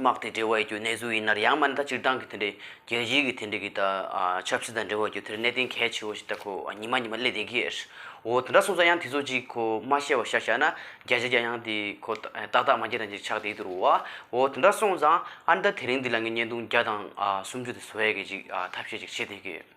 དམག་དེ་འབྲེལ་བ་ཡོད་རྒྱུ་གནས་ཚུལ་ཡིན་ནར་ཡང་མིན་ད་སྤྱིར་བཏང་གི་དེ་འདྲའི་རྒྱལ་སྤྱིའི་གི་དེ་འདྲ་གི་ད་ཆབ་སྲིད་དང་འབྲེལ་བ་ཡོད་རྒྱུ་དེ་གནད་དོན་གལ་ཆེ་བོ་ཞིག་ད་ཁོ་ཉི་མ་ཉི་མ་སླེབས་བསྡད་ཀྱི་རེད། འོ་དེ་འདྲ་སོང་ཙང་ཡང་དེ་ཚོ་ཅིག་ཁོ་མ་བཤད་པ་ཤ་ཤ་ན་རྒྱ་ཆེ་རྒྱ་ཡང་དེ་ཁོ་ཏག་ཏག་མ་རྒྱ་དང་ཅིག་ཆགས་བསྡད་ཀྱི་རུ་བ། འོ་དེ་འདྲ་སོང་ཙང་ཨ་མདའ་དེ་རིང་འདི་ལ་ངས་བརྙན་ཐུང་བརྒྱ་དང་སུམ་ཅུ་དེ་བཟོ་ཡས་ཀྱི་ཅིག་ཐབས་ཤེས་ཅིག་བྱེད་བསྡད་ཀྱི་ཡོད།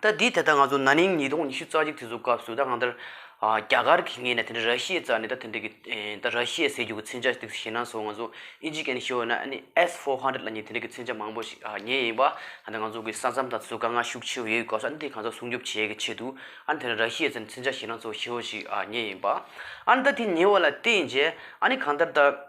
ད་དེའི་ཐད་ད་ང་ཚོ་ན་ནིང་ཉིས་སྟོང་ཉི་ཤུ་རྩ་གཅིག་དུས་ཚོད་སྐབས་སུ་ད་གང་ལྟར་རྒྱ་གར་གྱི་ངོས་ནས་དེ་འདྲ་ར་ཤི་ཡའི་རྩ་ནས་ད་དེ་འདྲ་གི་ད་ར་ཤི་ཡའི་ཟས་རྒྱུད་ཀྱི་མཚོན་ཆ་དེ་ཞིག་ཞིག་ན་སོང་ང་ཚོ་ཨི་ཇི་ཀན་ཤི་ཡོ་ན་ཨ་ནི S four hundred ལ་ནི་དེ་འདྲ་གི་མཚོན་ཆ་མང་པོ་ཞིག་ཉོས་ཡིན་པ་ད་ང་ཚོ་གི་ས་མཚམས་དང་ཚོ་དཀའ་ངལ་ཤུགས་ཆེ་བ་ཡོད་སྐབས་སུ་ཨ་ནི་དེ་གང་ཟག་སྲུང་སྐྱོབ་བྱེད་ཀྱི་ཆེད་དུ་ཨ་ནི་དེ་འདྲ་ར་ཤི་ཡའི་རྩ་ནས་མཚོན་ཆ་ཞིག་ན་ཚོ་ཤི་ཡོ་ཞིག་ཉོས་ཡིན་པ་ཨ་ནི་ད་དེ་ཉོས་བ་ལ་བརྟེན་རྗེས་ཨ་ནི་གང་ལྟར་ད།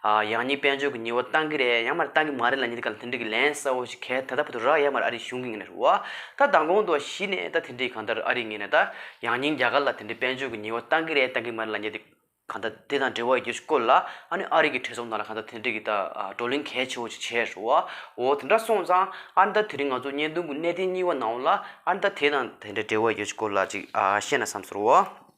ཡང་ནི་དཔལ་འབྱོར་གྱི་ཉི་བ་བཏང་གི་རེད་ཡང་མ་རེད་བཏང་གི་མ་རེད་ལ་ཉིན་ག་ལ་དེ་འདྲི་གི་ལན་གསལ་བོ་ཞིག་གལ་ད་ལྟ་བར་དུ་རག་ཡ་མ་རེད་ཨ་རི་གཞུང་གིས་ངེད་ནས་རུ་བ་ད་མདང་དགོང་དུ་གཞི་ནས་ད་དེ་འདྲི་གང་ལྟར་ཨ་རིས་ངེད་ནས་ད་ཡང་ཉིན་རྒྱ་གར་ལ་དེ་འདྲི་དཔལ་འབྱོར་གྱི་ཉི་བ་བཏང་གི་རེད་བཏང་གི་མ་རེད་ལ་ཉེ་དེ་གང་ལྟར་དེ་དང་འབྲེལ་བ་ཡི་གེ་ཞིག་བཀོད་ལ་ཨ་ནི་ཨ་རིག་གི་གྲས་ཚོགས་ནང་ལ་གང་ལྟར་དེ་འདྲི་གི་ད་བགྲོ་གླེང་གལ་ཆེ་བོ་ཞིག་བྱས་རུ་བ་འོ་དེ་འདྲ་སོང་ཙང་ཨ་ནི་ད་དེ་རིང་ང་ཚོ་བརྙན་ཐུང་གི་གནད་དོན་གཉིས་བ་ནང་ལ་ཨ་ནི་ད་དེ་དང་དེ་འདྲ་འབྲེལ་བ་ཡི་གེ་ཞིག་བཀོད་ལ་ཅིག་བཤད་ན་བསམ་ཚོར་བ།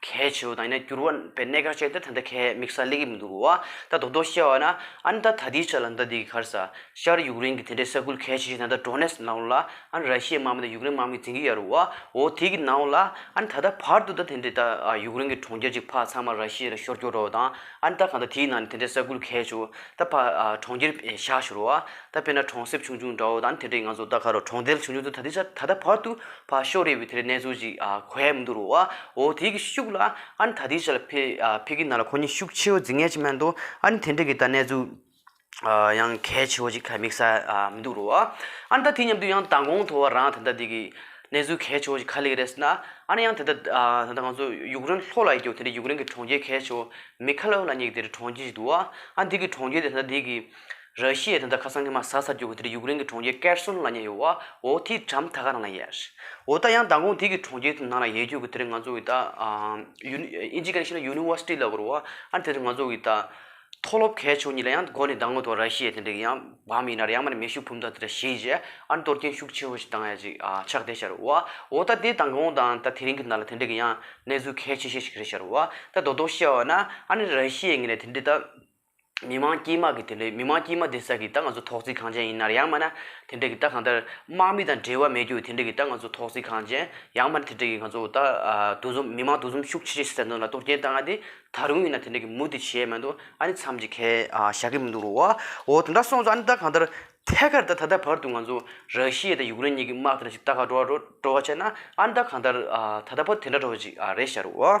གལ་ཆེ་བ་དང་ཡིན་ན་འགྱུར་བ་བའི་གནད་ཀར་བཅད་ད་ད་ཁལ་མིག་སར་གླེགས་ཡིབ་འདུག་བ་ད་དོག་དོག་བཤད་བ་ན་ཨན་ད་ད་དེའི་ཆ་ལ་ད་དེ་གི་ཁར་ས་ཤར་ཡུག་རེན་གི་དེ་འདྲའི་ས་ཁུལ་གལ་ཆེ་ཤོས་ན་ད་འགྲོ་གནས་ནང་ལ་ཨན་ར་ཤི་ཡའི་དམག་མི་དང་ཡུག་རེན་དམག་མི་འཛིན་གི་ཡ་རུ་བ་འོ་དེ་གི་ནང་ལ་ཨན་ད་ད་བར་དུ་ད་དེ་འདྲའི་ད་ཡུག་རེན་གི་གྲོང་ཁྱེར་གཅིག་ཕ་ཚང་མ་ར་ཤི་ཡ་རུ་ཤོར་སྐྱོར་འགྲོ་བ་དང་ཨན་ད་གང་ད་དེའི་ནང་ནས་དེ་འདྲའི་ས་ཁུལ་གལ་ཆེ་བོ་ད་ཕ་གྲོང་ཁྱེར་བཞག་ཤོར་བ། ད་དཔེར་ན་གྲོང་གསེབ་ཆུང་ཆུང་འདྲ་བོ་དང་དེ་འདྲའི་ང་ཚོ་ད་ཁ་རོག་གྲོང་རྡལ་ཆུང་ཆུང་དུ་ད་ད་ལྟ་བར་དུ་ཕ་ཤོག་རེད་པའི་དེ་འདྲའི་གནས་ཚུལ་ཞིག་གོ་ཡ་མི་འདུག་རོ་ཨོ་དེ་གི་ཤུགས་ལ་ཨ་ནི་ད་དེའི་ཆ་ལ་ཕེ་ཕེ་གི་ནང་ལ་ཁོ་གཉིས་ཤུགས་ཆེའོ་རྫིག་ངན་ཅིག་མ་འདུག་ཨ་ནི་དེ་འདྲའི་གི་ད་གནས་ཚུལ་ཡང་གལ་ཆེ་བོ་ཅིག་ག་མིག་ས་མི་འདུག་རོ་ཨ་ནི་ད་དེ་མཉམ་དུ་ཡང་མདང་དགོང་ཐོ་བ་རང་ད་ལྟ་དེ་གི་གནས་ཚུལ་གལ་ཆེ་བོ་ཅིག་ག་ལེགས་རེད་ཟེར་ན་ཨ་ནི་ཡང་དེ་ད་ད་ང་ཚོ་ཡུག་རེན་ལྷོ་ལ་ཡི་གེའོ་དེ་འདྲའི་ཡུག་རེན་གི་གྲོང་ཁྱེར་གལ་ཆེ་བོ་མི་ཁ་ལོ་ལ་ཉེ་གི་དེ་འདྲའི་གྲོང་ཁྱེར་ཞིག་འདུག་ཨ་ནི་དེ་གི་གྲོང་ཁྱེར་དེ་ད་ད་དེ་གི་ར་ཤི་ཡའི་དོན་དག་ཁ་སང་གི་མ་ཟ་ས་རྒྱུག་གི་དེར་ཡུག་རེན་གི་གྲོང་ཁྱེར་ཀེར་སོན་ལ་ཉེ་ཡོད་ཨོ་ཨོ་དེའི་གྲམ་ཐ་ག་ནང་ལ་ཡལ། འོ་ད་ཡང་མདང་དགོང་དེ་གི་གྲོང་ཁྱེར་ནང་ལ་ཡལ་རྒྱུག་གི་དེར་ང་ཚོ་གི་ད་ཡུན་ཨིན་ཇི་ག་ནས་ཤི་ན་ཡུ་ནི་ཝར་སི་ཏི་ལ་གོ་རུ་ཨ་དེར་ང་ཚོ་གི་ད་མཐོ་སློབ་གལ་ཆུང་གཉིས་ལ་ཡང་གོ་ནས་མདང་དགོང་དུ་ར་ཤི་ཡའི་དེ་འདྲ་གི་ཡང་བམ་ཡིན་ན་ར་ཡང་མ་ནི་མེ་ཤུགས་བུམ་ཐང་དེ་འདྲ་ཞིག་ཡིན་རྗེས་ཨ་གཏོར་སྐྱོན་ཤུགས་ཆེན་པོ་ཞིག་བཏང་ཡ་ཅིག་ཕྱག་བདེ་ཤར་ཨོ་ཨོ་ད་དེ་མདང་དགོང་དང་ད་དེ་རིང་གི་ནང་ལ་དེ་འདྲ་གི་ཡང་གནས་ཚུལ་གལ་ཆེ་ཤོས་ཤིག་རེད་ཤར་ཨོ་ད་རྡོག་རྡོག་བཤད་བ་ན་ཨ་ནི་ར་ཤི་ཡའི་ངེས་ནས་དེ་འདྲའི་ད། མི་དམངས་དཀྱིལ་དམག་གི་དེ་ལས་མི་དམངས་དཀྱིལ་དམག་དེ་ས་གི་ད་ང་ཚོ་ཐོག་བརྩིགས་ཁང་ཅན་ཡིན་ནར་ཡང་མ་ན་དེ་འདྲ་གི་ད་གང་ལྟར་དམག་མི་དང་འབྲེལ་བ་མེད་རྒྱུ་དེ་འདྲ་གི་ད་ང་ཚོ་ཐོག་བརྩིགས་ཁང་ཅན་ཡང་མ་ན་དེ་འདྲ་གི་ང་ཚོ་ད་འདུ་འཛོམས་མི་དམངས་འདུ་འཛོམས་ཤུགས་ཆེ་ཆེ་བྱེད་ས་འདུག་ན་གཏོར་སྐྱེན་བཏང་ང་དེ་ད་རུང་ཡིན་ན་དེ་འདྲ་གི་མུ་དེ་བྱས་མ་འདུག་ཨ་ནི་མཚམས་ཀྱི་ཁལ་བཞག་གི་མི་འདུག་རོ་འོ་དེ་འདྲ་སོང་ཙང་ཨ་ནི་ད་གང་ལྟར་ཐད་ཀར་ད་ད་ལྟ་བར་དུ་ང་ཚོ་ར་ཤི་ཡའི་དང་ཡུག་རེན་གཉིས་གི་དམག་དེ་འདྲ་ཞིག་ད་ག་འགྲོ་བ་འགྲོ་བ་བྱས་ན་ཨ་ནི་ད་གང་ལྟར་ད་ད་བར་དེ་འདྲ་འགྲོ་བ་ཞིག་རེད་ཤག་རོ།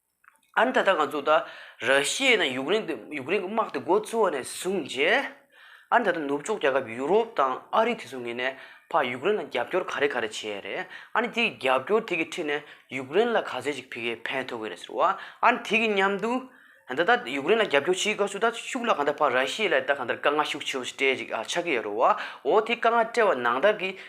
ཨ་མདོ་ད་ལྟ་ང་ཚོ་ད་ར་ཤི་ཡའི་ནང་ཡུཀ་རེན་དུ་ཡུཀ་རེན་གྱི་དམག་དེ་འགོ་བཙུགས་བ་ནས་བཟུང་རྗེས། ཨ་ད་ལྟ་ནུབ་ཕྱོགས་རྒྱལ་ཁབ་ཡུ་རོབ་དང་ཨ་རི་དེ་ཚོ་ངེས་ནས་ཕ་ཡུཀ་རེན་ལ་རྒྱབ་སྐྱོར་ག་རེ་ག་རེ་བྱས་རེད། ཨ་ནི་དེ་གི་རྒྱབ་སྐྱོར་དེ་གི་ཁྲིད་ནས་ཡུཀ་རེན་ལ་ག་ཚོད་ཅིག་ཕི་གེ་ཕན་ཐོགས་གི་རེད་ཟེར་བ། ཨ་ནི་དེ་གི་མཉམ་དུ། ད་ལྟ་ཡུཀ་རེན་ལ་རྒྱབ་སྐྱོར་བྱེད་ག་ཚོད་ད་ཤུགས་ལ་ག་འདྲ་ཕ་ར་ཤི་ཡའི་ལ་ད་ག་འདྲ་དཀའ་ངལ་ཤུགས་ཆེ་བོ་ཞིག་སྤྲད་ཅིག་ཆགས་ཀྱི་ཡོད་རེད་བ། འོ་དེ་དཀའ་ངལ་སྤྲད་བ་ནང་བདག་གི་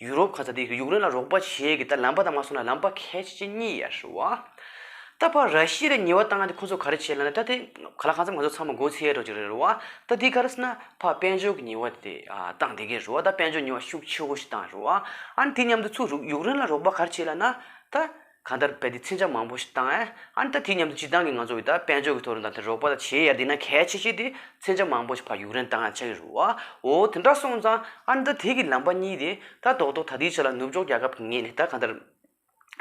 ཡུ་རོབ་ག་ས་དེ་ཡུཀ་རེན་ལ་རོགས་པ་བྱེད་ཀྱི་ད་ལམ་པ་དང་མ་སོང་ན་ལམ་པ་གལ་ཆེ་ཆེ་གཉིས་ཡར་ཞུ་བ། ད་པ་ར་ཤི་ལ་ཉེ་བ་བཏང་ན་དེ་ཁོ་ཚོ་ག་རེ་བྱེད་ལ་ན་ད་དེ་ག་ལ་གང་ཚ་མ་ཚོ་ཚང་མ་འགོ་ཚེ་ཡར་འགྲོ་རྒྱུ་རེད་རུ་བ། ད་དེ་ག་རེ་ས་ན་པ་དཔལ་འབྱོར་གྱི་ཉེ་བ་དེ་བཏང་དེ་གས་རུ་བ་ད་དཔལ་འབྱོར་ཉེ་བ་ཤུགས་ཆེ་བོ་ཞིག་བཏང་རུ་བ། ཨ་ནི་དེ་མཉམ་དུ་ཚུགས་རུག་ཡུཀ་རེན་ལ་རོགས་པ་ག་རེ་བྱེད་ལ་ན་ད། གང་ལྟར་བལྟས་ཏེ་འཚེམ་ཆ་མང་པོ་ཞིག་བཏང། ཨཱ་ནི་ད་དེ་སྙམ་དུ་སྤྱིར་བཏང་གི་ང་ཚོ་བོད་དག་དཔལ་འབྱོར་གྱི་ཐོག་རིན་ཐང་དེར་རོགས་པ་དང་བྱེ་ཡར་འདེགས་ན་གལ་ཆེ་ཤོས་དེ་འཚེམ་ཆ་མང་པོ་ཞིག་ཕར་ཡུག་རན་བཏང་ཡང་ཆགས་ཀྱི་རུ་བའོ། དེ་འདྲ་སོང་ཙང་ཨཱ་ནི་ད་དེ་གི་ལམ་པ་གཉིས་དེ་ད་རྡོག་རྡོག་ད་དེའི་ཆ་ལ་ནུབ་ཕྱོགས་རྒྱལ་ཁབ་ཀྱི་ངད་ནས་ད་གང་ལྟར་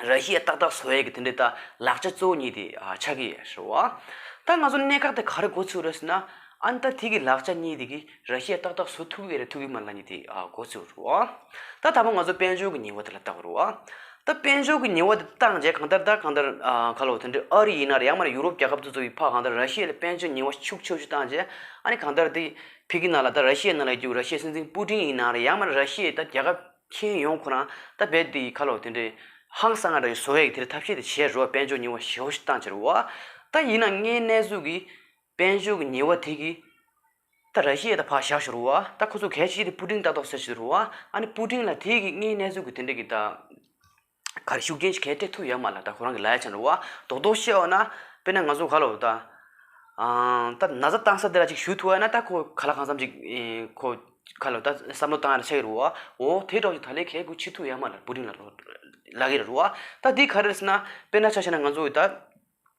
ར་ཤི་ཡ་ཏག་ཏག་བཟོ་ཡས་ཀྱི་དེ་འདྲའི་ད་ལག་ཆ་གཙོ་བོ་གཉིས་དེ་ཆགས་ཀྱི་རུ་བ། ད་ང་ཚོ་གནད་འགག་དེ་ག་རེ་འགོ་ཚུགས་རེད་ཟེར་ན། ཨཱ་ནི་ད་དེ་གི་ལག་ཆ་གཉིས་དེ་གི་ར་ཤས་ཏག་ཏག་བཟོ་ཐུབ་འི་རེད་ཐུབ་འི་མ་རེད་ལ་ནི་དེ་གོ་ཚོད་རུ་ཨོ། ད་ད་པ་ང་ཚོ་དཔལ་འབྱོར་གྱི་ཉི་བ་དེ་ལ་བལྟ་རུ་ཨོ། ད་དཔལ་འབྱོར་གྱི་ཉི་བ་དེ་བལྟ་རྗེས་གང་ལྟར་ད་གང་ལྟར་ཁ་ལོ་དེ་འདྲས་ཨ་རི་ཡིན་ན་རེད་ཡང་མ་རེད་ཡུ་རོབ་རྒྱལ་ཁབ་སོ་སོ་ཡི་ཕ་གང་ལྟར་ར་ཤས་ལ་དཔལ་འབྱོར་ཉི་བ་ཤུགས་ཆེ་ཤོས་བལྟ་རྗེས་ཨ་ནི་གང་ལྟར་དེ་ཕི་གི་ནང་ལ་ད་ར་ཤས་ནང་ལ་རྒྱུག་ར་ཤས་སྲིད་འཛིན་པུ་ཏིན་ཡིན་ན་རེད་ཡང་མ་རེད་ར་ཤས་ད་རྒྱལ་ཁབ་ཁྱེན་ཡོང་ཁོ་རང་ད་རྦད་དེ་ཁ་ལོ་དེ་འདྲས་ཧང་སང་རེད་བཟོ་ཨེ་གི་དེ་རེད་ཐབས་ཤེས་དེ་བྱེད་རུ་ཨོ་དཔལ་འབྱོར་ཉི་བ་ཞེ་བོ་ཞིག་བལྟ་འཇེ་རུ་ཨོ། ད་ཡིན་ན་ངའི་གནས་ཚུལ་གི་དཔལ་འབྱོར་གྱི་ཉི་བ་དེ་གི། ད་ར་ཤི་ཡ་ད་ཕ་ཤ་ཤོར་བ་ད་ཁོ་ཚོ་གས་ཤི་ཡ་ད་པུ་ཀྲིང་ཏག་ཏོག་ཟེར་ཤི་རུ་བ་ཨ་ནི་པུ་ཀྲིང་ལ་དེ་གི་ངའི་གནས་ཚུལ་གི་དེ་འདྲ་གི་ད་ག་རེ་ཤུགས་རྐྱེན་ཞིག་གས་སྤྲད་ཐུབ་ཡ་མ་ལ་ད་ཁོ་རང་གི་ལ་ཡ་ཆ་འགྲོ་བ་དོག་དོག་ཤི་ཡ་བ་ན་དཔེར་ན་ང་ཚོ་ག་ལ་བ་ད་ད་ན་ཟ་གཏང་ས་དེ་ར་ཅིག་ཞུ་ཐུབ་བ་ན་ད་ཁོ་ག་ལ་གང་བསམ་ཅིག་ཁོ་ག་ལ་བ་ད་བསམ་བློ་གཏང་ཡ་ད་ཆ་གི་རུ་བ་འོ་དེ་གྲོགས་ཀྱི་ད་ལས་གས་དགོས་ཆི་ཐུབ་ཡ་མ་ལ་པུ་ཀྲིང་ལ་རོ་ལ་གི་རུ་བ་ད་དེ་ག་རེ་ཟེར་ན་དཔེར་ན་ཆ་ཤས་ན་ང་ཚོ་གི་ད་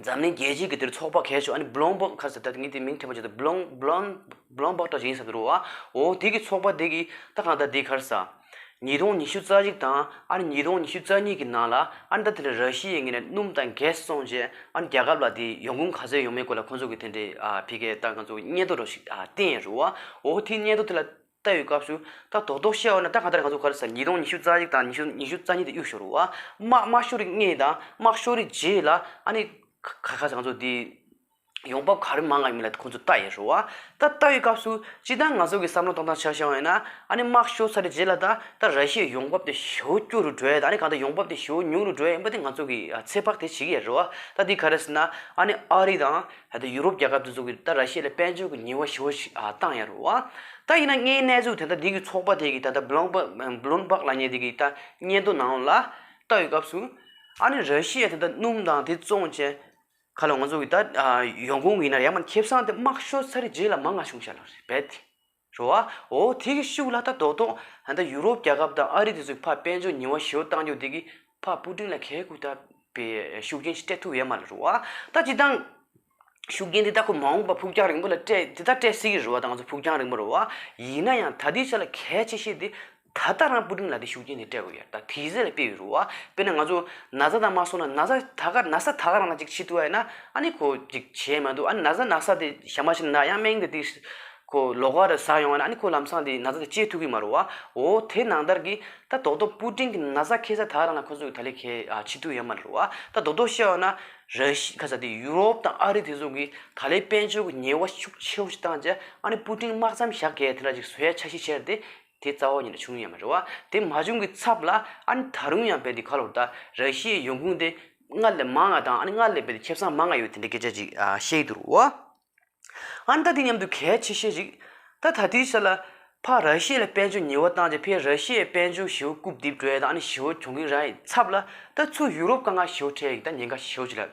འཛམ་གླིང་རྒྱལ་སྤྱིའི་གི་དེར་ཚོགས་པ་གས་ཆོག་ཨ་ནི་བློན་པོ་ཁ་ཟེར་ད་ངས་དེ་མིང་ཐོས་པ་བྱས་ཏེ་བློན་བློན་བློན་པོ་ཏོ་ཞིག་ཡིན་བསམ་གྱི་འདུག་བ་འོ་དེ་གི་ཚོགས་པ་དེ་གི་ད་གང་ལྟར་དེའི་ཁར་ས་ཉིས་སྟོང་ཉི་ཤུ་རྩ་གཅིག་དང་ཨ་ནི་ཉིས་སྟོང་ཉི་ཤུ་རྩ་གཉིས་གི་ནང་ལ་ཨ་ནི་ད་དེ་ལ་ར་ཤི་ཡའི་ངོས་ནས་སྣུམ་དང་གས་སོང་རྗེས་ཨ་ནི་རྒྱ་ཁབ་ལ་དེ་ཡོང་ཁུངས་ག་ཚོད་ཡོང་མིན་སྐོར་ལ་ཁོང་ཚོ་གི་དེ་འདྲའི་ཨ་ཕི་གའི་ཏང་ག་ཚོ་སྙན་ཐོ་རོ་ཞིག་ཨ་བསྟན་ཡོད་རུང་བ་འོ་དེའི་སྙན་ཐོ་དེ་ལ་ལྟ་བའི་སྐབས་སུ་ད་རྡོག་རྡོག་བཤད་འོ་ན་ད་གང་ལྟར་ང་ཚོ་གར་ས་ཉིས་སྟོང་ཉི་ཤུ་རྩ་གཅིག་དང་ཉི་ཤུ་ཉི་ཤུ་རྩ་གཉིས་དེ་གཡུག་ཞོར་རུ་ཨ་དམག་དམར་ཤོག་རིགས་ལྔས་དང་དམག་ཤོག་རིགས་བརྒྱད་ལ་ཨ་ནི། ཁ་ཁ་ས་ང་ཚོ་དེ་ཡོང་འབབ་ག་རེ་མང་ག་མིན་ལ་ཁོང་ཚོ་ལྟ་ཡས་ཞོར་ཨ་ད་ལྟ་བའི་སྐབས་སུ་ཅི་ད་ང་ཚོ་གི་བསམ་བློ་གཏོང་སྟངས་ཆགས་ཤོར་ཡས་ན་ཨ་ནི་དམག་ཤོག་ས་རིགས་བརྒྱད་ལ་ད་ད་ར་ཤི་ཡའི་ཡོང་འབབ་དེ་ཞོ་སྐྱུར་རུ་འགྲོ་ཡས་དང་ཨ་ནི་གང་ལྟར་ཡོང་འབབ་དེ་ཞོ་ཉུང་རུ་འགྲོ་ཡས་ཡིན་པ་དེ་ང་ཚོ་གི་ཚེ་དཔག་དེ་བྱེད་ཀྱི་ཡས་རོ་ཨ་ད་དེ་ག་རེ་ཟེར་ན་ཨ་ནི་ཨ་རི་དང། ད་ལྟ་ཡུ་རོབ་རྒྱལ་ཁབ་དེ་ཚོ་གིས་ད་ར་ཤི་ལ་དཔལ་འབྱོར་གྱི་ཉིན་བ་ཞི་བ་ཞིག་བཏང་ཡ་རུ་བ། ད་ཡིན་ན་ངའི་གནས་ཚུལ་དེ་ད་དེ་གི་ཚོགས་པ་དེ་གིས་ད་ལྟ་བློན་པོ་བློན་འབག་ལ་ཉེ་དེ་གིས་ད་སྙན་ཐོ་ནང་ལ་ལྟ་ཡོད་སྐབས་སུ། ཨ་ནི་ར་ཤི་ཡ་དེ་ད་སྣུམ་དང་དེ་བཙོང་བཅད་ཁ་ལོ་ང་ཚོ་གི་ད་ཡོང་ཁུངས་ཡིན་ན་ཡ་མ་ཁེབས་སང་དེ་དམག་ཤོར་ཚར་རེ་རྗེས་ལ་མ་ང་བྱུང་ཤ་ལོ་རེད་བས། རོ་ཨ། འོ་དེ་གི་ཤུགས་ལ་ད་དོག་དོག། ད་ནི་ཡུ་རོབ་རྒྱལ་ཁབ་དང་ཨ་རི་དེ་ཚོས་ཕ་དཔལ་འབྱོར་ཉིན་བ་ཞི་བ་གཏང་རྒྱུ་དེ་གི་ཕ་སྤུ་གྲིང་ལ་གས་ཁུག་ད་པའི་ཤུགས་རྐྱེན་ཞིག་སྤྲད་ཐུབ་ཡས་མ་རེད་རོ་ཨ། ད་ཅི་སྟང། ཤུགས་རྐྱེན་དེ་ད་ཁོ་མ་འོངས་པ་ཕུགས་རྒྱང་རིང་པོ་ལ་སྤྲད་དེ་ད་སྤྲད་སྲིད་གི་རོ་ཨ་ད་ང་ཚོ་ཕུགས་རྒྱང་རིང་པོ་རོ་ཨ། ཡིན་ན་ཡང་ད་དེའི་ཆ་ལ་གས་ཆེ་ཤེས་དེ། ད་ལྟ་རང་སྤུ་གྲིམ་ལ་དེ་ཤུགས་རྐྱེན་དེ་སྤྲད་དགོས་ཡ་ད་དེ་ཟེར་ལ་དཔེ་ཡོད་རུ་བ་དཔེར་ན་ང་ཚོ་ན་བཟའ་དང་མ་སོང་ན་ན་བཟའ་ད་ག་ན་བཟའ་ད་ག་རང་ལ་ཅིག་ཕྱི་བསྟུ་བ་ཡིན་ན་ཨ་ནི་ཁོ་ཅིག་བྱས་མ་འདུག་ཨ་ནི་ན་བཟའ་ན་བཟའ་དེ་ཞག་མ་ཕྱིན་ན་ཡང་སྨྲེང་དེ་དེ་ཁོ་ལོག་ག་རུ་ཟགས་ཡོང་བ་ན་ཨ་ནི་ཁོ་ལམ་སང་དེ་ན་བཟའ་དེ་སྐྱེལ་ཐུབ་གི་མ་རུ་བ་འོ་དེ་ནང་ལྟར་གི་ད་རྡོག་རྡོག་སྤུ་གྲིམ་གི་ན་བཟའ་ཁེ་ས་ད་ག་རང་ལ་ཁོ་ཚོ་གི་ད་ལས་ཁེ་ཕྱི་བསྟུ་ཡོད་མ་རུ་བ་ད་རྡོག་རྡོག་བཤད་བ་ན་ར་ཤི་ཁ་ས་དེ་ཡུ་རོབ་དང་ཨ་རི་དེ་ཚོ་གི་ད་ལས་དཔལ་འབྱོར་གི་ཉེ་བ་ཤུགས་ཆེ་བོ་ཞིག་བཏང་རྗེས་ཨ་ནི་སྤུ་གྲིམ་དམག་མཚམས་བཞག་གས་དེ་འདྲ་ཅིག་བཟོ་ཡ་ཆ་ཤི་ཆེར་དེ་དེ་རྩ་བ་ཉིད་ལ་བྱུང་ཡང་མི་རུང་བ། དེ་མ་བྱུང་གི་ཚབ་ལ་ཨ་ནི་ད་རུང་ཡང་བལ་འདི་ཁ་ལོ་བལྟ། ར་ཤི་ཡའི་ཡོང་ཁུངས་དེ་སྔར་ལས་མང་ཡང་དང་ཨ་ནི་སྔར་ལས་བལ་འདི་ཁེ་བཟང་མང་ཡང་ཡོད་དེ་འདྲའི་སྐད་ཆ་ཅིག་བཤད་ཡི་འདུག་བ། ཨ་ནི་ད་དེ་མཉམ་དུ་གལ་ཆེ་ཤེས་ཤིག། ད་ད་དུས་ཤར་ལ་ཕ་ར་ཤི་ཡ་ལ་དཔལ་འབྱོར་ཉེ་བོ་བཏང་རྗེས་ཕས་ར་ཤི་ཡའི་དཔལ་འབྱོར་ཞི་བོ་རྐུབ་རྡིབ་སྒྲོལ་དང་ཨ་ནི་ཞི་བོ་གྱོང་གིན་ར་ཡི་ཚབ་ལ་ད་ཚུར་ཡུ་རོབ་དཀའ་ངལ་ཞི་བོ་འཕྲད་ཡིག་ད་ཉེན་ཁ་ཞི་བོ་ཅིག་ལ།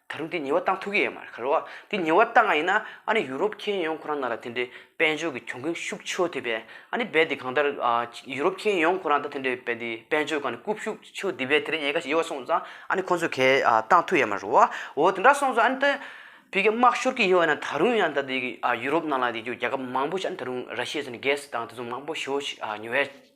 ད་རུང་དེ་ཉེས་བ་བཏང་ཐུག་གི་ཡོད་མ་རེད་ཁ་ལོ་བ། དེ་ཉེས་བ་བཏང་ང་ཡིན་ན་ཨ་ནི་ཡུ་རོབ་མཁྱེན་ཡོང་ཁོ་རང་ན་ར་དེ་འདྲའི་དཔལ་འབྱོར་གྱི་གྱོང་གུན་ཤུགས་ཆོད་དེ་བས་ཨ་ནི་རྦད་དེ་གང་ལྟར་ཡུ་རོབ་མཁྱེན་ཡོང་ཁོ་རང་ད་དེ་འདྲའི་རྦད་དེ་དཔལ་འབྱོར་གང་ནས་རྐུབ་ཤུགས་ཆོད་དེ་བས་དེ་རིང་ཉེས་ཁ་ཡོད་བ་སོང་ཙང་ཨ་ནི་ཁོང་ཚོས་གས་བཏང་ཐུག་ཡོད་མ་རེད་བ་འོ་དེ་འདྲ་སོང་ཙང་ཨ་ནི་ད་བོད་རྒྱ་དམག་ཤོར་གི་ཡོད་ན་ད་རུང་ཡང་ད་དེ་ཡུ་རོབ་ནང་ལ་དེ་རྒྱ་ཁབ་མང་པོ་ཞིག་ཨ་ནི་ད་རུང་ར་ཤི་ཡ་ཚོ་ནི་གས་བཏང་དེ་ཚོ་མང་པོ་ཤོར་ཉོ་བས།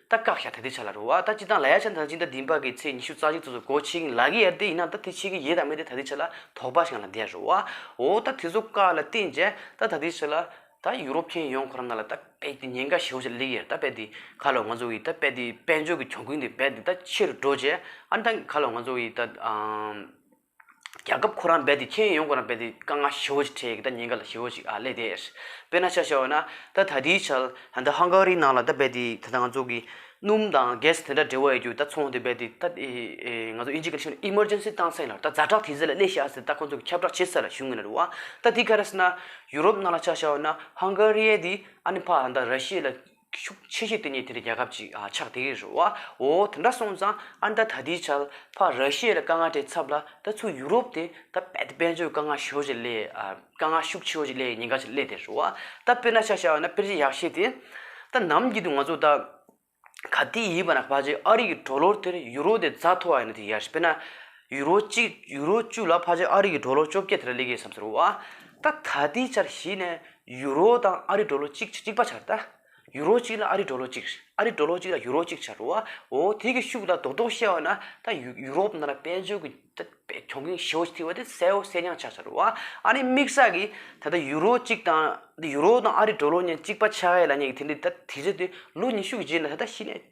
ད་བཀག་བྱ་ཐ་དེ་ཆ་ལ་རུ་བ་ད་ཅི་དང་ལ་ཡ་ཆ་འདང་ཅི་འདང་དིན་པ་གི་ཚེ་ཉི་ཤུ་རྩ་གཅིག་ཚོ་ཚོ་གོ་ཆིག་ལ་གི་ཡར་དེ་ཡིན་ན་ད་དེ་ཆིག་གི་ཡེ་དང་མེ་དེ་ཐ་དེ་ཆ་ལ་དོག་པ་ཞིང་ལ་འདེ་རུ་བ་འོ་ད་དེ་ཚོ་བཀག་ལ་བསྟན་རྗེ་ད་ཐ་དེ་ཆ་ལ་ད་ཡུ་རོབ་མཁན་ཡོང་ཁོ་རང་ན་ལ་ད་པད་དེ་ཉེན་ཁ་ཞི་བོ་ཆ་ལ་ལེགས་ཡེར་ད་པད་དེ་ཁ་ལོ་ང་ཚོ་ཡི་ད་པད་དེ་དཔལ་འབྱོར་གི་གྱོང་གུན་དེ་པད་དེ་ད་ཆེ་རུ་འགྲོ་རྗེ་ཨ་ད་ཁ་ལོ་ང་ཚོ་ཡི་ད་རྒྱལ་ཁབ་ཁོ་རང་རྦད་དེ་མཁྱེན་ཡོང་ཁོ་རང་རྦད་དེ་དཀའ་ངལ་ཞི་བོ་ཞིག་འཕྲད་ཀྱི་ད་ཉིན་ག་ལ་ཞི་བོ་ཞིག་ཨ་ལས་དེ། དཔེར་ན་ཆ་བཞག་འོ་ན་ད་ད་ལྟའི་ཆར་ད་ལྟ་ཧང་ག་རིའི་ནང་ལ་ད་རྦད་དེ་ད་ལྟ་ང་ཚོ་གི་སྣུམ་དང་གས་དེ་འདྲ་འབྲེལ་བ་ཡོད་རྒྱུ་ད་ཚོང་དེ་རྦད་དེ་ད་ཨེ་ང་ཚོ་ཨི་འཇིག་ག་ལ་ཞེན་ཨི་མར་ཇན་སི་བཏང་སེང་ལ་ད་རྫ་དྲག་དེ་ཟེར་ལ་གླེ་ཤག་ཟེར་ད་ཁོ་ཚོ་གི་ཁྱབ་བསྒྲགས་བྱེད་ས་ལ་ཞུགས་ངེས་ན་རེད་བ་ད་དེ་ག་རེ་ཟེར་ན་ཡུ་རོབ་ནང་ལ་ཆ་བཞག་འོ་ན་ཧང་ག་རིའི་དེ་ཨ་ནི་ཕ་ད་ར་ཤི་ཡའི་ལ་ཤུགས་ཆེ་ཤོས་དེ་ནི་དེ་རྒྱལ་ཁབ་ཅིག་ཆགས་དེ་རེད་རོ། འོ། དེ་འདྲ་སོང་ཙང་ཨ་མདའ་ད་དེའི་ཆལ་ཕ་ར་ཤེས་ལ་དཀའ་ངལ་དེ་ཚབ་ལ་ད་ཚུར་ཡུ་རོབ་དེ་ད་དཔལ་དེ་དཔལ་འབྱོར་དཀའ་ངལ་ཤོར་ཅིག་སླེ་དཀའ་ངལ་ཤུགས་ཆེ་བོ་ཅིག་སླེ་ཉེན་ཁ་ཅིག་སླེ་དེ་རོ། ད་དཔེར་ན་ཆ་བྱའོ་ན་དཔེར་གཞི་ཡག་ཤེས་དེ། ད་ནམ་གྱི་དུ་ང་ཚོ་ད་ག་དུས་ཡིན་པ་ན་ཕ་ཆེ་ཨ་རིག་གི་གྲོ་ལོར་དེར་ཡུ་རོ་དེ་རྫ་མཐོ་བ་ཡིན་ན་དེ་ཡག་ཤེས་དཔེར་ན། ཡུ་རོ་གཅིག་ཡུ་རོ་བཅུ་ལ་ཕ་ཆེ་ཨ་རི་གི་འགྲོ་ལོ་བཅོ་བརྒྱད་དེ་འདྲ་ལེགས་ཡིན་བསམ་ཟེར་བ། ད་ད་ལྟའི་ཆར་གཞི་ནས་ཡུ་རོ་དང་ཨ་རི་འགྲོ་ལོ་གཅིག་གཅིག་པ་ཆར་ད། ཡུ་རོ་གཅིག་ལ་ཨ་རི་འགྲོ་ལོ་གཅིག་ཨ་རི་འགྲོ་ལོ་གཅིག་ལ་ཡུ་རོ་གཅིག་ཆར་བ། འོ་དེ་གི་ཤུགས་ལ་རྡོག་རྡོག་བཤད་བ་ན་ད་ཡུ་རོབ་ནང་ལ་དཔལ་འབྱོར་གི་ད་གྱོང་གུན་ཞེ་བོ་ཞིག་ཐིག་བ་དེ་གསལ་བོ་གསལ་རྐྱང་ཆགས་ཆར་བ། ཨ་ནི་དམིགས་བསལ་གི་ད་ལྟ་ཡུ་རོ་གཅིག་དང་ཡུ་རོ་དང་ཨ་རི་འགྲོ་ལོ་གཉིས་གཅིག་པ་ཆགས་ཡས་ལ་ཉེ་གི་དེ་འདི་ད་དེ་ཚོ་དེ་ལོ་ཉི་ཤུ་གི་རྗེས་ལ་ད་ད་གཞི་ནས།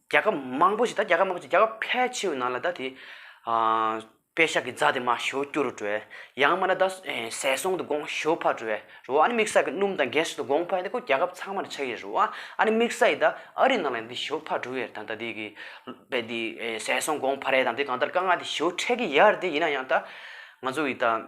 རྒྱལ་ཁབ་མང་པོ་ཞིག་ད་རྒྱལ་ཁབ་མང་པོ་ཞིག་རྒྱལ་ཁབ་ཕལ་ཆེ་བའི་ནང་ལ་ད་དེ། དཔེ་ཞག་གི་རྫ་དེ་མ་ཞོ་སྐྱུ་རུ་བྲོས། ཡང་མ་ད་ཟས་སོང་དུ་སྒོང་ཞོ་ཕར་བྲོས། རུ་བ་ཨ་ནི་དམིགས་བསལ་གྱི་སྣུམ་དང་གས་སོགས་དུ་སྒོང་ཕར་ཡིན་ད་ཁོ་རྒྱལ་ཁབ་ཚང་མ་ལ་ཆགས་ཡོད་རུ་བ་ཨ་ནི་དམིགས་བསལ་ཡི་ད་ཨ་རི་ནང་ལ་ཡང་དེ་ཞོ་ཕར་བྲོས་ཡོད་དང་ད་དེ་གི། དཔེ་དེ་ཟས་སོང་སྒོང་ཕར་ཡ་དང་དེ་གང་ལྟར་དཀའ་ངལ་དེ་ཞོ་འཕྲད་ཀྱི་ཡར་དེ་ཡིན་ན་ཡང་ད། ང་ཚོ་ཡི་ད།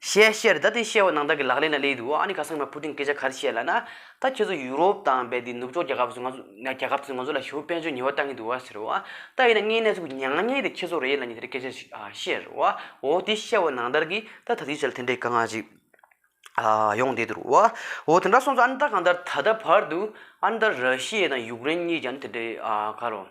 ཞེས་བཤད། ད་དེ་བཤད་བ་ནང་བདག་གི་ལག་ལེན་ལ་ལས་འདུག་ཨ་ནི་ག་སང་མ་ཕུ་ཀྲིན་སྐད་ཆ་གར་བཤད་ལ་ན། ད་ཁྱེད་ཚོ་ཡུ་རོབ་དང་རྦད་དེ་ནུབ་ཕྱོགས་རྒྱ་ཁབ་སུ་ང་ཚོ་རྒྱ་ཁབ་ཚོས་ང་ཚོ་ལ་ཞི་བུ་དཔལ་འབྱོར་ཉེས་བ་བཏང་གི་འདུག་བ་ཟེར་བ། ད་ཡིན་ན་ངའི་གནས་ཚུལ་མྱང་ཉེས་དེ་ཁྱེད་ཚོ་རེད་ལ་ཉི་ཟེར་སྐད་ཆ་ཞིག་བཤད་རོགས་ཨ། འོ་དེ་བཤད་བ་ནང་བདར་གི་ད་ད་དུས་ཚོད་ལ་དེ་འདྲའི་ག་ང་ཞིག་ཡོང་བསྡད་འདུག་རོགས་ཨ། འོ་དེ་འདྲ་སོང་ཚོ་ཨ་ནི་ད་གང་ལྟར་ད་ལྟ་བར་དུ་ཨ་ནི་ད་ར་ཤི་ཡེ་དང་ཡུག་རེན་གཉིས་ཀྱང་ཨ་ནི་དེ་འདྲའི་ག་རོ།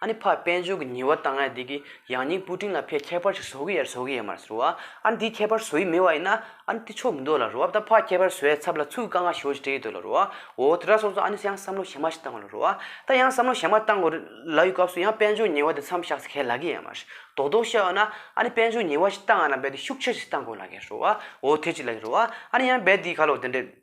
ཨ་ནི་ཕ་དཔལ་འབྱོར་གྱི་ཉེས་བ་དང་ཡང་དེ་གི་ཡང་སྙིང་སྤུ་ཀྲིང་ལ་ཕའི་ཁྱད་པར་ཞིག་བཟོ་གི་ཡ་རེད་བཟོ་གི་ཡ་མ་རེད་ཟེར་བ། ཨ་ནི་དེའི་ཁྱད་པར་བཟོ་ཡི་མེད་བ་ཡིན་ན་ཨ་ནི་དེ་ཆོ་མི་འདོད་ལ་རེད་བ་ད་ཕ་ཁྱད་པར་བཟོ་ཡའི་ཚབ་ལ་ཚུར་དཀའ་ངལ་ཞོ་ཞིག་སྤྲད་ཡི་འདོད་ལ་རེད་བ། འོ་དེ་འདྲ་སོང་ཙང་ཨ་ནི་ཡང་བསམ་བློ་ཞན་མ་ཞིག་བཏང་དགོས་ལ་རེད་བ། ད་ཡང་བསམ་བློ་ཞན་མ་བཏང་དགོས་ལ་ཡོད་སྐབས་སུ་ཡང་དཔལ་འབྱོར་ཉེས་བ་དེ་མཚམས་བཞག་ཚེ་གལ་ལ་གི་ཡ་མ་རེད། རྡོག་རྡོག་བཤད་འོ་ན་ཨ་ནི་དཔལ་འབྱོར་ཉེས་བ་ཞིག་བཏང་ཡ་ན་རྦད་དེ་ཤུགས་ཆེ་ཞིག་བཏང་དགོས་ལ་གལ་རེད་བ། འོ་དེ་གཅིག་ལ་རེད་བ། ཨ་ནི་ཡང་རྦད་དེའི་ཁ་ལོ་དེ་འདྲས།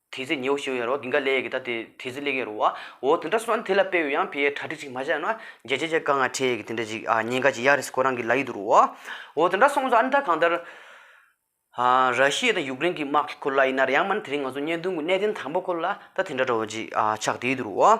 དེ་ཚེ་ཉེའུ་ཤི་ཡོད་རོ་དེང་ག་ལེ་ཡས་ཀི་ད་དེ་དེ་ཚེ་ལེ་གེ་རོ་བ་འོ་དེ་འདྲ་སོང་དེ་ལ་དཔེ་ཡོད་ཡང་ཕི་ཡའི་གྲ་སྒྲིག་ཅིག་མ་བྱས་ན་རྒྱལ་སྤྱི་ཅག་ག་ང་ཁྲེ་ཡས་ཀི་དེ་འདྲ་ཅིག་ཨ་ཉེན་ཁ་ཅིག་ཡ་རེ་ས་ཁོ་རང་གི་ལ་ཡིད་དུ་རུ་བ་འོ་དེ་འདྲ་སོང་ཚོ་ཨ་མི་ད་གང་ལྟར་ཧ་ར་ཤི་ཡའི་དང་ཡུག་རེན་གི་དམག་གི་ཁོ་ལ་ཡིན་ན་རེ་ཡང་མ་ནི་དེ་རིང་ང་ཚོ་བརྙན་ཐུང་གི་གནས་བརྟན་དང་པོ་ཁོ་ལ་ད་དེ་འདྲ་འགྲོ་བ་ཅིག་ཨ་ཆག་དེ་ཡིད་དུ་རུ་བ།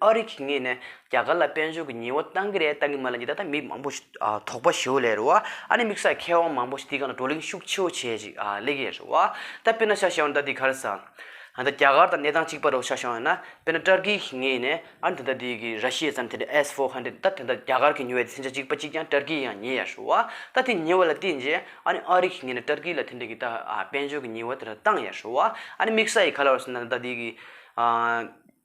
ཨ་རིག་གིས་ངས་ནས་རྒྱ་གར་ལ་དཔལ་འབྱོར་གྱི་ཉེས་བ་བཏང་གི་རེད་བཏང་གི་མ་རེད་འདི་ད་ལྟ་མི་མང་པོ་ཞིག་དོགས་པ་ཞུ་ལེ་རུ་བ་ཨ་ནི་དམིགས་བསལ་མཁས་དབང་མང་པོ་ཞིག་འདི་ག་ནང་བགྲོ་གླེང་ཤུགས་ཆེ་བོ་བྱས་ཅིག་གླེགས་ཡས་རུ་བ་ད་དཔེར་ན་ཤ་ཞེས་བ་འདི་ད་འདི་ག་རེ་ས་ད་རྒྱ་གར་དང་གནས་སྟངས་གཅིག་པ་རུ་ཤ་ཞེས་བ་ཡིན་ན་དཔེར་ན་ཏར་ཀི་གིས་ངས་ནས་ཨ་རི་འདི་ད་འདི་གི་ར་ཤི་ཡའི་ཙམ་དེ་འདྲ་ཨེས་ཧྥོ་ཧན་ཏེ་ད་དེ་འདྲ་རྒྱ་གར་གིས་ཉོས་བ་དེ་སེམས་ཅན་གཅིག་པ་གཅིག་ཀྱང་ཏར་ཀི་ཡང་ཉེས་ཡས་རུ་བ་ད་དེ་ཉེས་བ་ལ་བརྟེན་རྗེས་ཨ་ནི་ཨ་རིག་གིས་ངས་ནས་ཏར་ཀི་ལ་དེ་འདྲ་གི་ད་དཔལ་འབྱོར་གྱི་ཉེས་བ་དེ་འདྲ་བཏང་ཡས་རུ་བ་ཨ་ནི་དམིགས་བསལ་ཡི་ག་ལ་རུ་ས་ད་འདི་གི་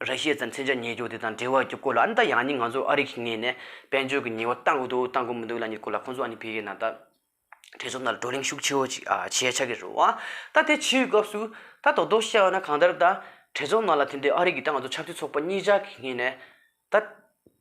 རེ་ཞིག་ཙམ་ཚན་ཆ་ཉེ་རྒྱུགས་དེ་དང་འབྲེལ་བ་རྒྱུགས་སྐོར་ལ་ཨ་ནི་ད་ཡང་ནི་ང་ཚོ་ཨ་རིག་གི་ངེས་ནས་དཔལ་འབྱོར་གྱི་ཉེ་བ་བཏང་གི་འདུག་བཏང་གི་མི་འདུག་ལ་ནི་སྐོར་ལ་ཁོང་ཚོ་ཨ་ནི་བོད་ཡིག་ནང་ད་དྲི་རྩོམ་དང་བགྲོ་གླེང་ཤུགས་ཆེའོ་ཅིག་བྱས་ཆགས་ཀྱི་རུང་བ་ད་དེ་ཕྱིའི་སྐབས་སུ་ད་དོག་དོག་བཤད་བ་ན་གང་ལྟར་ད་དྲི་རྩོམ་ནང་ལ་དེ་འདི་ཨ་རིག་གི་ད་ང་ཚོ་ཆབ་སྲིད་ཚོགས་པ་གཉིས་ཅག་གི་ངེས་ནས་ད།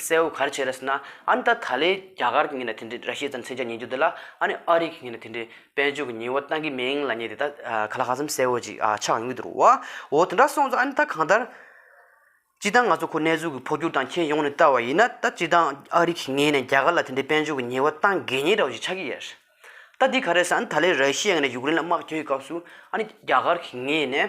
གསལ་བོ་གར་བྱེད་རེད་ཟེར་ན་ཨ་ནི་ད་ད་ལའི་རྒྱ་གར་གྱི་ངན་ན་དེ་འདྲའི་ར་ཤི་ཙམ་མཚན་ཆ་ཉན་རྒྱུ་དེ་ལ་ཨ་ནི་ཨ་རི་གི་ངན་ན་དེ་འདྲའི་དཔལ་འབྱོར་གྱི་ཉེས་བོ་བཏང་གི་མིན་ལ་ཉེས་དེ་ད་ག་ལ་ཧ་ཙམ་གསལ་བོ་ཅིག་ཨ་ཆགས་ཡོང་གི་འདུག་བ་འོ་དེ་འདྲ་སོང་ཙང་ཨ་ནི་ད་གང་ལྟར། སྤྱི་བཏང་ང་ཚོ་ཁོ་ནེ་ཙོའི་གི་འཕོ་འགྱུར་དང་ཁྱེད་ཡོང་ནས་བལྟ་བ་ཡིན་ན་ད་སྤྱི་བཏང་ཨ་རི་གི་ངན་ན་རྒྱ་གར་ལ་དེ་འདྲའི་དཔལ་འབྱོར་གྱི་ཉེས་བོ་བཏང་དགོས་ཉེས་འདྲ་བོ་ཅིག་ཆགས་ཀྱི་ཡོད། ད་འདི་ག་རེད་ཟེར་ན་ཨ་ནི་ད་ལའི་ར་ཤི་ཡ་ངན་ན་ཡུག་རེན་ལ་དམག་བསྐྱོད་ཀྱི་སྐབས་སུ་ཨ་ནི་རྒྱ་གར་གྱི་ངན་ན།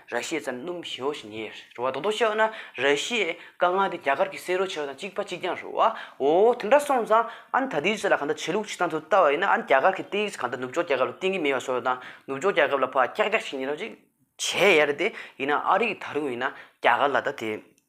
ར་ཤེས་ཙམ་སྣུམ་བྱེ་བོ་ཞིག་ཉེ་རུ་བ་རྡོག་རྡོག་བྱེད་ན་ར་ཤེས་དཀའ་ངལ་དེ་རྒྱ་གར་གྱི་བསེ་རུ་བྱེ་བ་དང་གཅིག་པ་གཅིག་རྐྱང་རུ་བའོ། དེ་འདྲ་སོང་ཙང་ཨ་ནི་ད་དེའི་ཚེ་ལ་གང་ལྟར་བྱེད་ལུགས་ཆིག་ཐང་དུ་བལྟ་བ་ཡིན་ན་ཨ་ནི་རྒྱ་གར་གྱི་སྟེང་གི་ཚེ་གང་ལྟར་ནུབ་ཕྱོགས་རྒྱལ་ཁབ་ལ་གཏན་གྱི་མེ་ཡོད་སོགས་དང་ནུབ་ཕྱོགས་རྒྱལ་ཁབ་ལ་ཕག་སྐྱག་སྐྱག་ཞིག་ཉེ་རབས་ཅིག་བྱས་ཡ་རེད་དེ་ཡིན་ན་ཨ་རིག་གི་ད་རུང་ཡིན་ན་རྒྱ་གར་ལ་ད་དེ།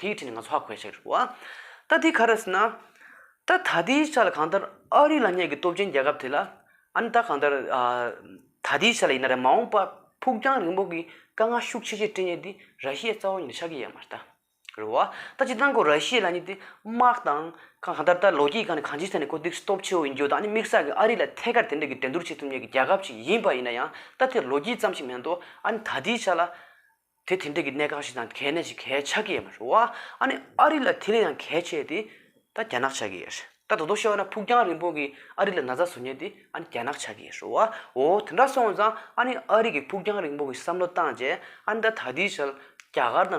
དེའི་ཁྲིད་ནི་ང་ཚོ་ཧ་གོ་ཡ་ཞིག་རེད། ད་དེ་ག་རེད་ཟེར་ན། ད་ད་ལྟའི་ཆ་ལ་གང་ལྟར་ཨ་རི་ལ་བསྙད་ཀྱི་སྟོབས་ཆེན་རྒྱལ་ཁབ་དེ་ལ། ཨ་ནི་ད་གང་ལྟར། ད་ལྟའི་ཆ་ལ་ཡིན་ན་རེད་མ་འོངས་པར་ཕུགས་རྒྱང་རིང་པོ་གི་དཀའ་ངལ་ཤུགས་ཆེ་ཆེ་སྤྲད་ཉེན་དེ་ར་ཤི་ཡའི་རྩ་བ་ཉིད་ལ་ཆགས་ཀྱི་ཡོད་མ་རེད། རེད་བ། ད་ཅིག་གནང་གོ་ར་ཤི་ཡ་ལ་ཉིད་དེ་དམག་དང། གང་གང་ལྟར་ད་ལོ་རྒྱུས་སྒང་ནས་གང་ཅིའི་ཐད་ནས་གོ་དུས་སྟོབས་ཆེ་བོ་ཡིན་རྒྱུ་དང་ཨ་ནི་དམིགས་བསལ་གྱི་ཨ་རི་ལ་ཐད་ཀར་དེ་འདྲ་གི་འགྲན་བསྡུར་བྱེད་ཐུབ་ཉེན་གྱི་རྒྱལ་ཁབ་ཅིག་ཡིན་པ་ཡིན་ན་ཡང་ད་དེ་ལོ་རྒྱུས་ཙམ་ཞིག་མིན་འདུག་ཨ་ནི་ད་ལྟའི་ཆ་ལ། དེ་དེ་འདྲས་ཀྱི་གནས་གང་ཞིག་དང་གལ་གནད་ཅིག་གལ་ཆགས་ཀྱི་ཡོད་མ་རེད། ཨ་ནི་ཨ་རི་ལ་དེ་ལས་ཡང་གལ་ཆེ་དེ། ད་རྒྱ་ནག་ཆགས་ཀྱི་ཡོད་རེད། ད་དོ་དོ་བཤད་བ་ན་ཕུགས་རྒྱང་རིང་པོ་གི་ཨ་རི་ལ་ན་ཚ་བཟོ་ཉེན་དེ་ཨ་ནི་རྒྱ་ནག་ཆགས་ཀྱི་ཡོད་རེད། འོ་དེ་འདྲ་སོང་ཙང་ཨ་ནི་ཨ་རི་གི་ཕུགས་རྒྱང་རིང་པོ་གི་བསམ་བློ་བཏང་རྗེས་ཨ་ནི་ད་ད་ལྟའི་ཆར་རྒྱ་གར་དང།